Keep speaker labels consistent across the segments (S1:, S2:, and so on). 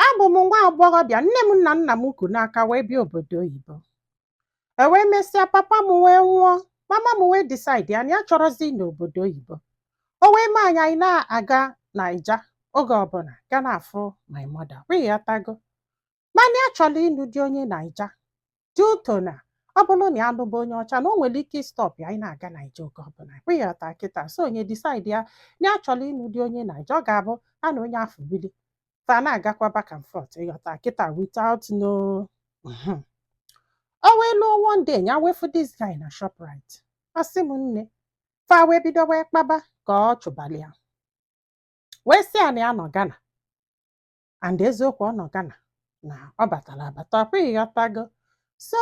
S1: Abụ m nwa agbọghọbịa, nne m na nna m ku n'aka wee bịa obodo oyibo. E wee mesịa papa m wee nwụọ, mama m wee disaidi na ya achọrọzi ịnọ obodo oyibo. O wee mee anyị anyị na-aga Naija oge ọbụla ga na-afụ my mother, ọkwa ịghọtago. Mana ya chọrọ ịnụ di onye Naija. due to na ọ bụrụ na ya lụba onye ọcha na o nwere ike ịstọp ya anyị na-aga naija oge ọbụla ọkwa ịghọta kịta so nya edisaidie na ya chọrọ ịnụ di onye naija ọ ga-abụ ya na onye afụ bili fa na-agakwa back and forth ịghọta kịta without no Mhm. o wee luo one day ya wee fụ this guy na shoprite ọ sị m nne fa wee bido wee kpaba ka ọ chụbali ya wee sị ya na ya nọ Ghana and eziokwu ọ nọ Ghana na ọ batara abata ọkwa ịghọtago so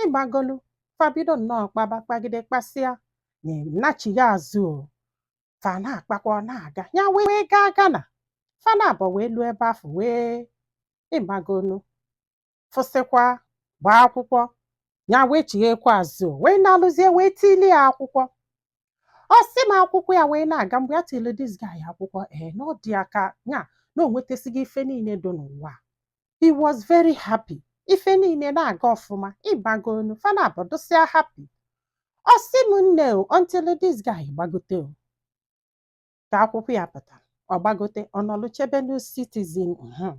S1: ịmagonu fa bido nnọọ kpaba kpagide kpasịa nya nachigha azụ o fa na-akpakwa ọ na-aga ya wee gaa Ghana fa naabọ wee luo ebe afụ wee ịmagonu fụsịkwa gbaa akwụkwọ ya wee chighekwa azụ wee na-alụzie wee tili ya akwụkwọ ọ sị m akwụkwọ ya wee na-aga mgbe ya tili this guy akwụkwọ ee na ọ dị ya ka ya na o nwetasịgo ife niile dị n'ụwa he was very happy ife niile na-aga ọfụma ịmagonu fa naabọ dụsịa happy ọ sị m nne o until this guy gbagote o ka akwụkwọ ya pụta ọ gbagote ọ nọlụ chebenụ citizen mhm.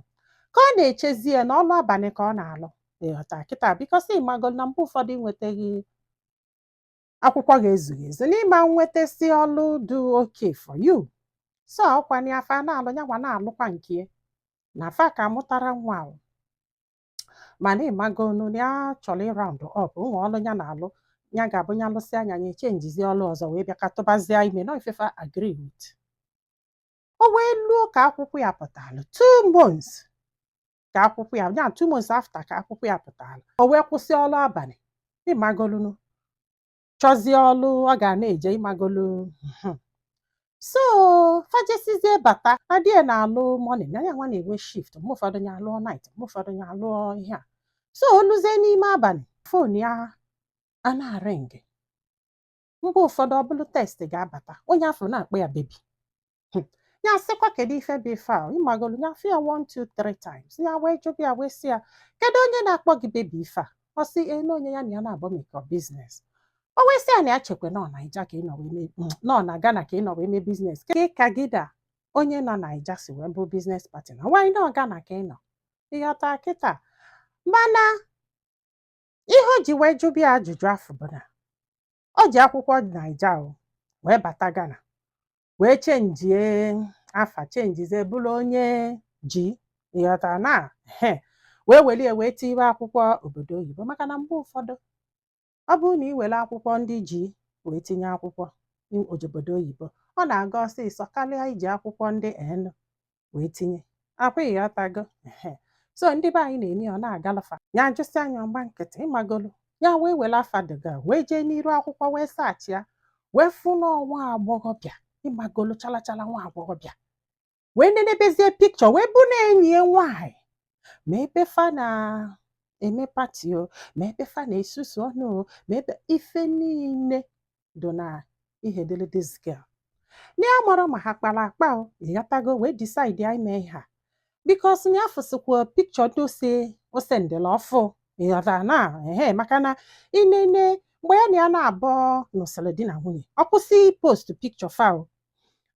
S1: ka ọ na-echezi ya na ọlụ abalị ka ọ na-alụ ịghọta kịta bikọsi ịmago na mgbe ụfọdụ ị nwetaghị akwụkwọ gị ezughị ezu n'ịma nwetasi ọlụ dị okay for you so ọkwa na afa na-alụ ya nwa na-alụkwa nke ya na fa aka amụtarọ nwa ahụ mana ịmagonu na ya chọrọ ịround up with ọlụ ya na-alụ ya ga-abụ ya lụsịa nya ya echenjizi ọlụ ọzọ wee bịa ka tụbazie ime na ọ ife fa agree with o wee luo ka akwụkwọ ya pụtara two months ka akwụkwọ ya ya two months after ka akwụkwọ ya pụtara o wee kwụsị ọlụ abalị ịmagolunu chọzie ọlụ ọ ga na-eje ịmagolu hmm. so fa jesịzie bata di ya na-alụ morning nya nwa na-enwe shift mgbe ụfọdụ ya alụọ night mgbe ụfọdụ ya alụọ ihe a so o luzie n'ime abalị fon ya a na-arịngị mgbe ụfọdụ ọ bụrụ text ga-abata onye afụ na-akpọ ya bebi hmm. ya sịkwa kedu ife bụ ife a ịmagolu ya fụ ya one two three times ya wee jụba ya wee sị ya kedu onye na-akpọ gị bebi ife a ọ sị ee na onye ya na ya na-abụ emekọ biznes o wee sị ya na ya chekwa na ọ naija ka ị nọ wee hmm, na ọ na Ghana ka ị nọ wee mee biznes kee ka gị na onye nọ naija si wee bụ biznes partner nwaanyị na ọ Ghana ka ị nọ ịghọta kịta mana ihe o ji wee jụba ya ajụjụ afụ bụ na o ji akwụkwọ naija o wee bata Ghana wee chenjie afa chenjizie bụrụ onye G ịghọta na he wee were ya wee tiwe akwụkwọ obodo oyibo maka na mgbe ụfọdụ ọ bụrụ na ị were akwụkwọ ndị G wee tinye akwụkwọ obodo oyibo ọ na-aga ọsịsọ karịa iji akwụkwọ ndị N wee tinye akwa ịghọtago so ndị be anyị na-eme ọ na-agalafa ya ajụsịa nya ọ gba nkịtị ịmagolu ya wee were afa the girl wee jee n'iru akwụkwọ wee saachị ya wee fụ na ọ nwa agbọghọbịa ịmagolu chalachala nwa agbọghọbịa wee nenebezie pikchọ wee bụ na enyi ya nwaanyị ma ebe fa na-eme pati o ma ebe fa na-esusu ọnụ o ma ebe ife niile do na ihe dịrị this girl na ya amarọ ma ha kpara akpa o ịghọtago wee decide ya ime ihe a bikos na ya fụsịkwa pikchọ ndị ose ose ndịla ọfụ ịghọta na ehe maka na i nene mgbe ya na ya naabọ nụsịrị di na nwunye ọ kwụsị post pikchọ fa o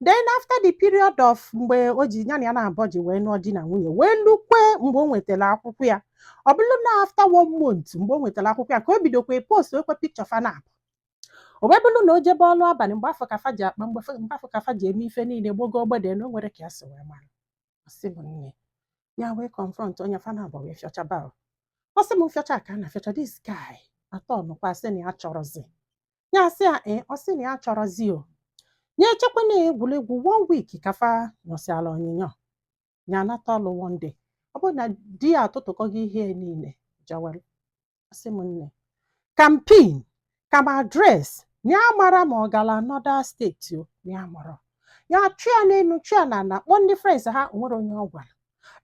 S1: then after the period of mgbe o ji ya na ya naabọ ji wee nụọ di na nwunye wee lukwe mgbe o nwetara akwụkwọ ya ọ bụrụ na after one month mgbe o nwetara akwụkwọ ya ka o bidokwa postuwekwe pikchọ fa na o wee bụrụ na o jebe ọlụ abalị mgbe afụ ka fa ji akpa mgbe mgbe afụ ka fa ji eme ife niile gbogo ogbede na o nwerọ ka ya si wee mara ọ sị m nne ya wee confront onye fa naabọ wee fịọchaba ọ sị m fịọcha ka a na-afịọcha this guy atọ nụkwa sị na ya achọrọzi ya sị ya ee ọ sị na ya achọrọzi o nya echekwa na egwuregwu one week ka fa nyụsịala onyinyo ya anata ọlụ one day ọ bụrụ na di ya atụtụkọgo ihe niile jawel ọ sị m nne kampin ka m adres ya amarọ ma ọ gara anọda steeti o ya amarọ ya chọọ ya n'elu chọọ ya na ala kpọọ ndị frens ha o nwerọ onye ọ gwara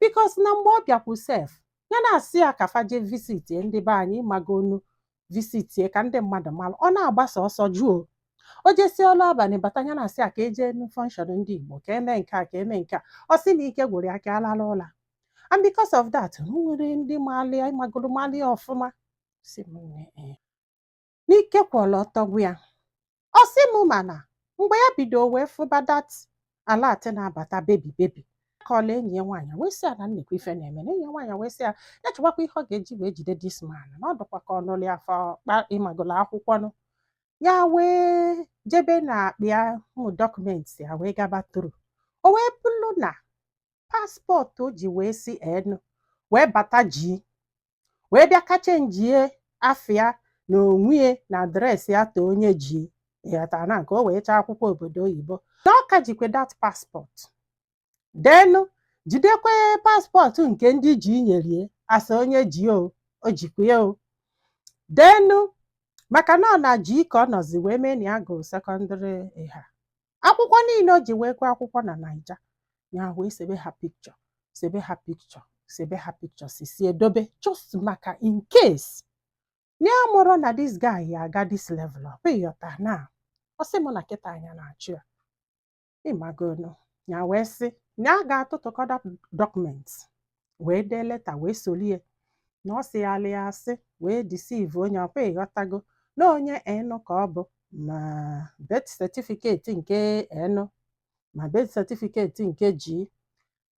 S1: bikos na mgbe ọ bịakwu sef ya na-asị ya ka fa je visit ndị be anyị ịmagonu visitie ka ndị mmadụ mara ọ na-agbasa ọsọ jụọ o jesie ọlụ abalị bata ya na-asị ya ka e je fọnshọn ndị Igbo ka e me nke a ka e me nke a ọ sị na ike gwụrụ ya ka a lalụ ụla and because of that o nwerọ ndị malụ ya ịmagoro malụ ya ọfụma sị m nne ee. n'ike kwụrụ ọtọ gwụ ya ọ sị m mana mgbe ya bido wee fụba dat alat na-abata bebi bebi kọọla enyi ya nwaanyị wee sị ya na nekwa ife na-eme na enyi ya nwaanyị wee sị ya ya chọbakwa ihe ọ ga-eji wee jide dis man na ọ dụkwa ka ọ nụlụ ya for kpa ịmagolo akwụkwọ nụ ya wee jebe na akpa ya ụmụ dọkụmenti ya wee gaba through o wee bụrụ na paspọtụ o ji wee si N wee bata G wee bịa ka chenjie afa na onwe ya na adreesị ya ta onye G ịghọta na nke o wee chọọ akwụkwọ obodo oyibo na ọ ka jikwe dat paspọtụ ndị N jidekwe paspọtụ nke ndị G nyere ya as onye G o o jikwa ya o denu maka na ọ na G ka ọ nọzi wee mee na ya gụrụ sekọndịrị ịha akwụkwọ niile o ji wee gụọ akwụkwọ na naija ya wee sebe ha picture sebe ha picture sebe ha picture sesie dobe just maka in case ya amarọ na this guy ya-aga this level o ịghọta na ọ sị mụ na kịta anya na-achụ ya ịmagonu ya wee sị na a ga-atụtụkọta document wee dee leta wee solie na ọ sịyalịa asị wee deceive onye ọkwa ịghọtago na onye enu ka ọ bụ ma birth certificate nke enu ma birth certificate nke ji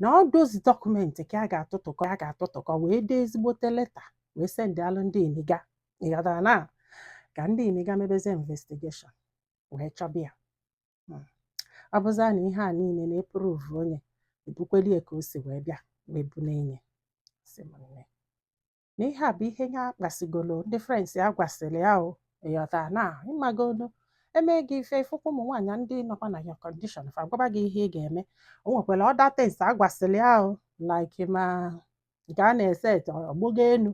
S1: na ọ those document ka a ga-atụtụkọ a ga-atụtụkọ wee dee ezigbote leta wee sendịalụ ndị imiga ịghọtara na ka ndị imiga mebezie investigation wee chọba ya hmm. ọ bụzịa na ihe a niile na-eprove onye ebukweli ya ka o si wee bịa wee bu n'enye sị m nne na ihe a bụ ihe ya kpasigolo ndị friends ya gwasịrị ya o ịghọta na ịmagonu e mee gị ife ị fụkwa ụmụ nwaanyị ndị nọkwa na your condition fa agwaba gị ihe ị ga-eme o nwekwara other things a gwasịrị ya o like ma nke a na-eset ọgbụgo enu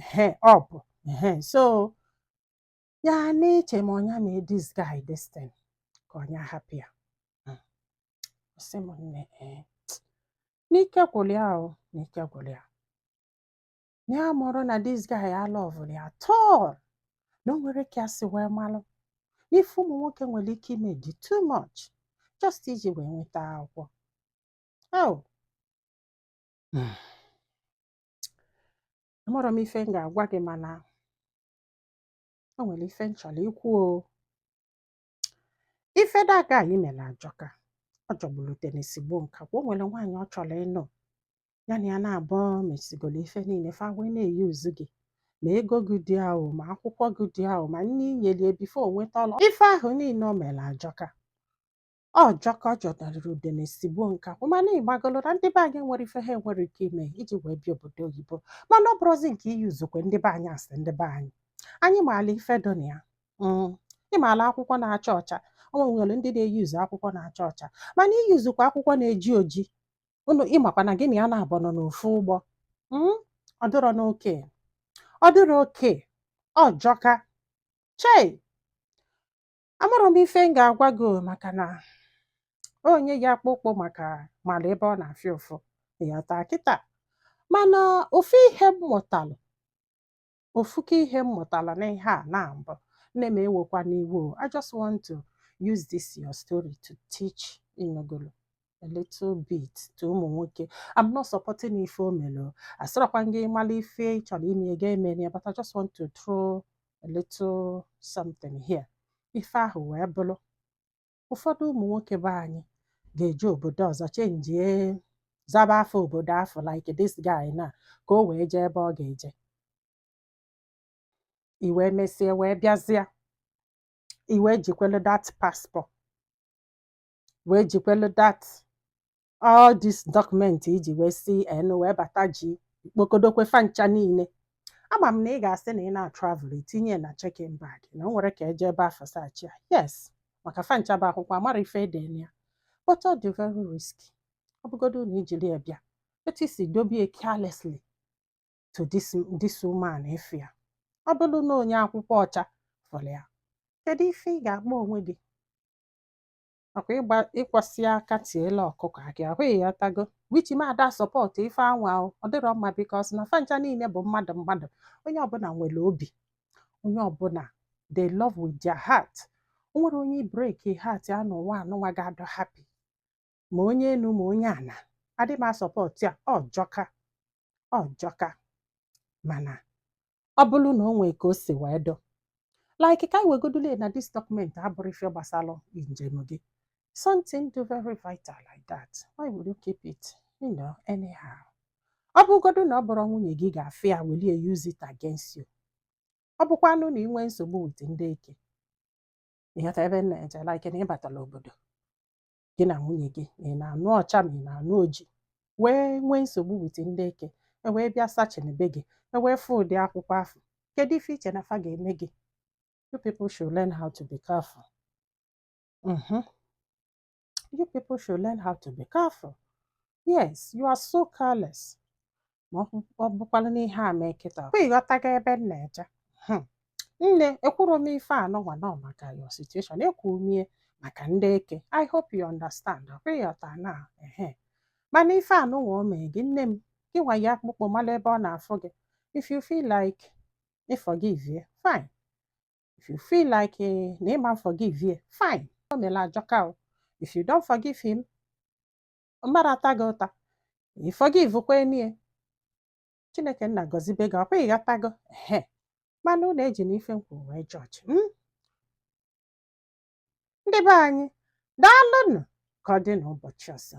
S1: ehe ọ bụ ehe so ya na-eche ma ọ nya mee this guy this thing ka ọ nya hapụ ya Mm. Ọ sị m nne ee na ike gwụrụ ya o na ike gwụrụ ya na ya amarọ na this guy alovurọ ya at all na o nwere ka ya si wee malụ na ife ụmụ nwoke nwere ike ime dị too much just iji wee nweta akwụkwọ oh Mm. amarọ m ife m ga-agwa gị mana o nwere ife m chọrọ ikwu o ife that guy mere ajọka ọ jọgburu udene sigbuo nkakwụ o nwere nwaanyị ọ chọrọ ịnụ ya na ya naabọ mesigoro ife niile fa wee na-euse gị ma ego gị dị ahụ ma akwụkwọ gị dị ahụ ma nne inyelie before o nweta ọlụ ife ahụ niile o mere ajọka ọ jọka ọ jọdarịrị udene sigbuo nkakwụ mana ịmagolo na ndị be anyị nwere ife ha nwere ike ime iji wee bịa obodo oyibo mana ọ bụrụzi nke i-usekwa ndị be anyị a sị ndị be anyị anyị maala ife dị na ya mm, ịmaala akwụkwọ na-acha ọcha o nwere ndị na-euse akwụkwọ na-acha ọcha mana i-usekwa akwụkwọ na-eji oji onye ị makwa na gị na ya naabọ nọ n'ofu ụgbọ mm, ọ dịrọ okay ọ dịrọ okay ọ jọka chei amarọ m ife m ga-agwa gị o, maka na onye yi akpụ ụkwụ maka mara ebe ọ na-afụ ya ụfụ ịghọta kịta mana ofu ihe m mụtalụ ofuke ihe m mụtara n'ihe a na mbụ nne m ewekwana iwe o i just want to use this your story to teach inogolo a little bit to ụmụ nwoke i'm not supporting ife o mere o asịrọkwa m gị mara ife ị chọrọ ime ị ga-emere ya but i just want to throw a little something here ife ahụ wee bụrụ ụfọdụ ụmụ nwoke be anyị ga-eje obodo ọzọ chenjie zaba afa obodo afụ like this guy na ka o wee jee ebe ọ ga-eje i wee mesịa wee bịazịa i wee jikwelu that passport wee jikwelu that all this document i ji wee si en wee bata ji kpokodokwe fa ncha niile ama m na ị ga-asị na ị na-atravel i tinye na check-in bag na o nwerọ ka eje ebe afụ search ya yes maka fa ncha bụ akwụkwọ amarọ ife ede na ya but ọ dị very risky ọ bụgodu na i jiri ya bịa etu i si dobe ye carelessly to this, this woman afụ ya ọ bụrụ na onye akpụkpọ ọcha fụrụ ya kedu ife ị ga-akpọ onwe gị ọkwa ịkwọsịa aka tielu ọkụkọ akị ịghọtago which mụ ada support ife anwa ahụ ọ dịrọ mma because na fa ncha niile bụ mmadụ mmadụ onye ọbụla nwere obi onye ọbụla they love with their heart o nwerọ onye i break heart ya n'ụwa anụnwa ga-adị happy ma onye enu ma onye ana adị m asupport ya ọ jọka ọ jọka mana ọ bụrụ na o nwee ka o si wee dị like ka anyị wegodule na this document abụrụ ife gbasara njem gị something dị very vital like that why would you keep it you know anyhow ọ bụgodu na ọ bụrọ nwunye gị ga-afụ ya welie use it against you ọ bụkwanụ na ị nwee nsogbu with ndị eke ịghọta ebe m na-eje like na ịbatala obodo gị na nwunye gị ma ị na-anụ ọcha ma ị na-anụ oji wee nwee nsogbu with ndị eke e wee bịa search na be gị e wee fụ ụdị akwụkwọ afụ kedu ife i che na fa ga-eme gị you people should learn how to be careful mm-hmm. you people should learn how to be careful yes you are so careless ma ọ bụkwala n'ihe a mee kịta ọkwa ịghọtago ebe m na-eje hmm. nne ekwurọ m ife anụnwa nọ maka your situation ekwuru m ya maka ndị eke i hope you understand ọkwa ịghọta na ehe mana ife anụnwa o mee gị nne m gị nwa yi akpụkpọ mala ebe ọ na-afụ gị if you feel like you forgive ye fine if you feel like eh, na ịma forgive ye fine o mere ajọka o if you don't forgive him mmadụ ata gị ụta ị forgive kwanụ ye chineke nna gọzibe gị ọkwa ịghọtago ehe mana unu ejina ife m kwuru wee judge hmm? ndị be anyị daalụnụ ka ọ dị n'ụbọchị ọzọ